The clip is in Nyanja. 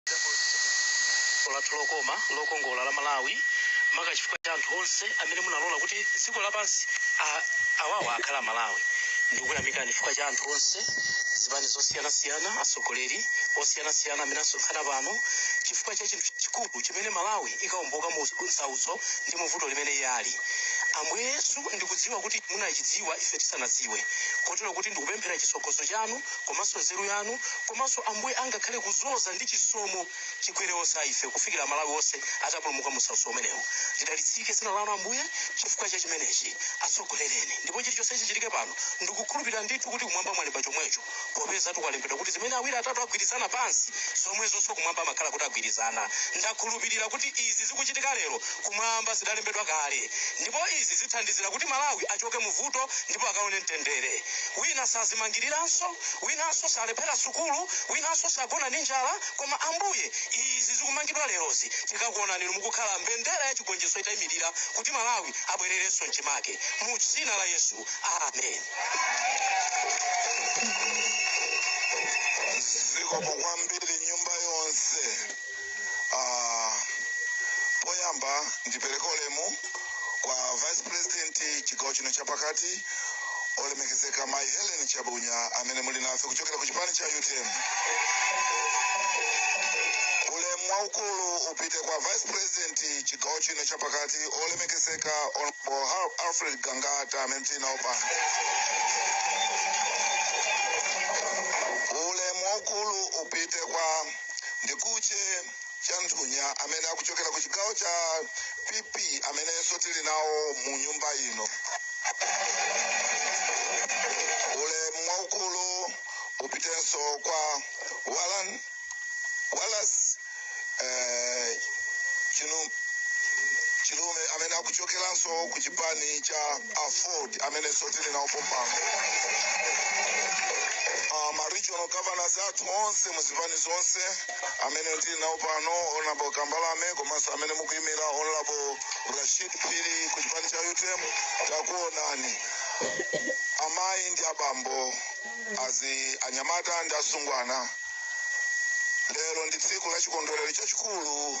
dziko lathu lokoma lokongola la malawi maka chifukwa cha anthu onse amene munalola kuti dziko lapansi awawa akhala malawi ndikuyamikani chifukwa cha anthu onse zipani zosiyanasiyana atsogoleri osiyanasiyana amene asonkhana pano chifukwa cha chinthu chikulu chimene malawi ikaomboka mu nsautso ndi muvuto limene iye ali ambuye yesu ndikudziwa kuti munachidziwa ife tisanadziwe kotero kuti ndikupemphera chitsogozo chanu komanso nzeru yanu komanso ambuye angakhale kuzoza ndi chisomo chikwere onse a ife kufikira amalawi onse atapulumuka munsautso umenewu lidalitsike dzina lanu ambuye chifukwa cha chimenechi atsogolereni ndipo chilichonse chichitike pano ndikukhulupirira ndithu kuti kumwamba mwalemba chomwecho popeza ndi kwalembedwa kuti zimene awiri atatu agwirizana pansi zomwezonso kumwamba amakhala kuti agwirizana ndakhulupirira kuti izi zikuchitika lero kumwamba zidalembedwa kale ndipo izi zithandizira kuti malawi achoke muvuto ndipo akaone mtendere Wina sadzimangiriranso, winanso salephera sukulu, winanso sagona ndi njala, koma, Ambuye, izi zikumangidwa lerozi, tikakuonani Inu mukukhala mbendera ya chigonjetso itaimirira, kuti Malawi abwererenso mchimake. Mu Dzina la Yesu. Amen. Zikomo kwambiri, nyumba yonse. Ah, poyamba ndipereka ulemu kwa vice president chigawo chino chapakati olemekezeka mayi helen chabunya amene muli nafe kuchokera ku chipani cha utm ulemu waukulu upite kwa vice president chigawo chino chapakati olemekezeka honorable Har- alfred gangata amene tili nawo pano ulemu waukulu upite kwa a khumbize chanthunya amene akuchokera ku chigawo cha pp amenenso tili nawo mu nyumba ino ulemu waukulu upitenso kwa walan wallace eh, chinu chiume amene akuchokeranso ku chipani cha aford amenenso tili nawo pompano uh, ma regional governors athu onse muzipani zonse amene tili nawo pano honorable kambalame komanso amene mukuyimira honorable rashid phiri ku chipani cha utm takuonani amayi ndi abambo azinyamata ndi atsungwana lero ndi tsiku la chikondwerero chachikulu